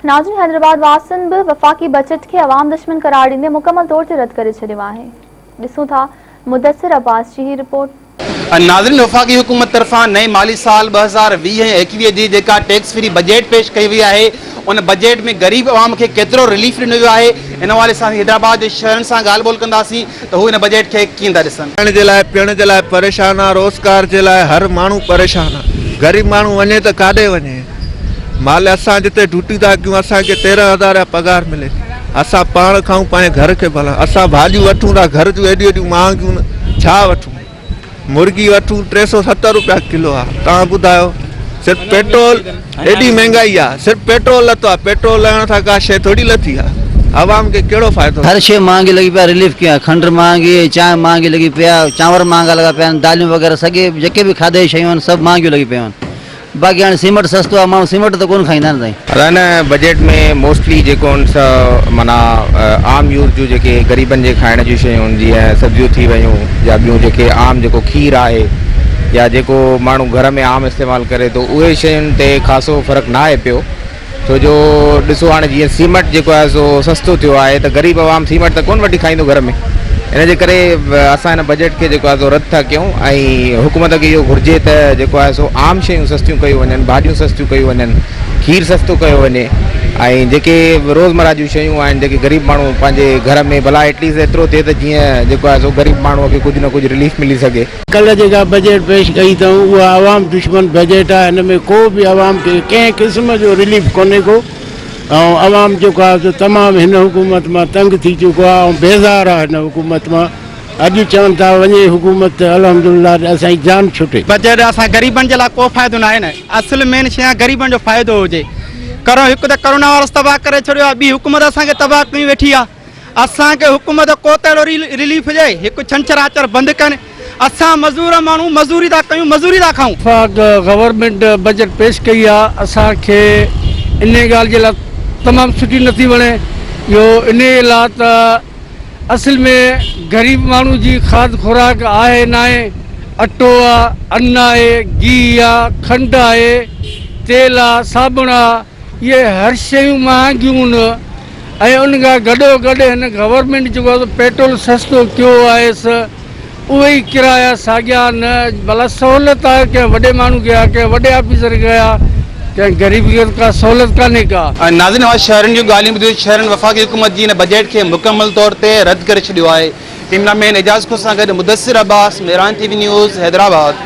ناظرين حيدرآباد واسين به وفاقي بجيٽ کي عوام دشمن قرار ڏيندي مڪمل طور تي رد ڪري ڇڏيو آهي ڏسون ٿا مدثر عباس جي هي رپورٽ. ناظرين وفاقي حڪومت طرفان نئين مالي سال ٻه هزار ويهه ۽ ايڪويهه جي جيڪا ٽيڪس فري بجيٽ پيش ڪئي وئي آهي ان بجيٽ ۾ غريب عوام کي ڪيترو رليف ڏنو ويو آهي ان حوالي سان اسين حيدرآباد جي شهرين سان ڳالهه ٻولهه ڪنداسين ته هو ان بجيٽ کي ڪيئن ٿا ڏسن. کائڻ جي لاء پيئڻ جي لاء پريشان آ روزگار جي لاء هر ماڻهو پريشان آ غريب ماڻهو وڃي ته ڪاڏي وڃي مالي اسان جتي ڊوٽي ٿا ڪيون اسان کي تيرهن هزار يا پگهار ملي ٿي اسان پاڻ کائون پنهنجي گهر کي ڀلان اسان ڀاڄيون وٺون ٿا گهر جون ايڏيون ايڏيون مهانگيون ڇا وٺون. مرغي وٺون ٽي سؤ ستر روپيا ڪلو آ تان ٻڌايو صرف پيٽرول ايڏي مهنگائي آ صرف پيٽرول لٿو آ پيٽرول لهڻ سان ڪا شي ٿوري لٿي آ عوام کي ڪهڙو فائدو هر شي مهانگي لڳي پيا رليف ڪيئن آ کنڊ مهانگي چانهه مهانگي لڳي پئي آ چانور مهانگا لڳا پيا آهن داليون وغيره سڳي جيڪي به کاڌي جي شيون آهن سڀ مهانگيون لڳي پيون آهن باقي هاڻي سيمٽ سستو آهي ماڻهو سيمٽ ته ڪونه کائيندا نه سائين. ادا هن بجيٽ ۾ موسٽلي جيڪو هن سا معنيٰ عام يوز جون جيڪي غريبن جي کائڻ جون شيون هن جيئن سبزيون ٿي ويون يا ٻيون جيڪي عام جيڪو کير آهي يا جيڪو ماڻهو گهر ۾ عام استعمال ڪري ٿو اهي شين تي خاصو فرق نه آهي پيو ڇو جو ڏسو هاڻي جيئن سيمٽ جيڪو آهي سو سستو ٿيو آهي ته غريب عوام سيمٽ ته ڪونه وٺي کائيندو گهر ۾ ان جي ڪري اسان هن بجيٽ کي جيڪو آهي سو رد ٿا ڪيون ۽ حڪومت کي اهو گهرجي ته جيڪو آهي سو عام شيون سستيون ڪيون وڃن ڀاڄيون سستيون ڪيون وڃن کير سستو ڪيو وڃي ۽ جيڪي روزمرا جون شيون آهن جيڪي غريب ماڻهو پنهنجي گهر ۾ ڀلا ايٽليسٽ ايترو ٿئي ته جيئن جيڪو آهي سو غريب ماڻهو کي ڪجهه نه ڪجهه رليف ملي سگهي ڪلهه جيڪا بجيٽ پيش ڪئي اٿئون اها عوام دشمن بجيٽ آهي هن ۾ ڪو به عوام کي ڪنهن قسم جو رليف ڪونهي ڪو ۽ عوام جيڪو آهي سو تمام هن حڪومت مان تنگ ٿي چڪو آهي ۽ بيزار آهي هن حڪومت مان اڄ چون ٿا وڃي حڪومت ته الحمدلله اسان جي جان ڇٽي. بجيٽ اسان غريبن جي لاء ڪو فائدو ناهي نه اصل مين شي آهي غريبن جو فائدو هجي ڪرو هڪ ته ڪرونا وائرس تباهه ڪري ڇڏيو آهي ٻي حڪومت اسان کي تباهه ڪيون ويٺي آهي. اسان کي حڪم ته ڪوتهڙو رليف ڏئي هڪ ڇنڇر آچر بند ڪن اسان مزور ماڻهو مزوري ٿا ڪيون مزوري ٿا کائون. وفاق گورنمينٽ بجيٽ پيش ڪئي آ اسان کي انهي ڳالهه جي لا تمام سٺي نٿي وڻي اهو انهي لا ته اصل ۾ غريب ماڻهو جي کاڌ خوراڪ آهي ناهي اٽو آ ان آهي گيهه آ کنڊ آهي تيل آ صابڻ آ اهي هر شيون مهانگيون ۽ ان کان گڏو گڏ هن گورنمينٽ جيڪو آهي سو پيٽرول سستو ڪيو آهي سو اهي ئي ڪرايا ساڳيا نه بلا سهولت آهي ڪنهن وڏي ماڻهو کي آهي ڪنهن وڏي آفيسر کي آهي ڪنهن غريب کي ڪا سهولت ڪانهي ڪا. ناظرين اوهان شهرين جون ڳالهيون ٻڌيون شهرين وفاقي حڪومت جي ان بجيٽ کي مڪمل طور تي رد ڪري ڇڏيو آهي ڪيمرا مين اعجاز کهو سان گڏ Mudassar Abbas Miran T V news Hyderabad.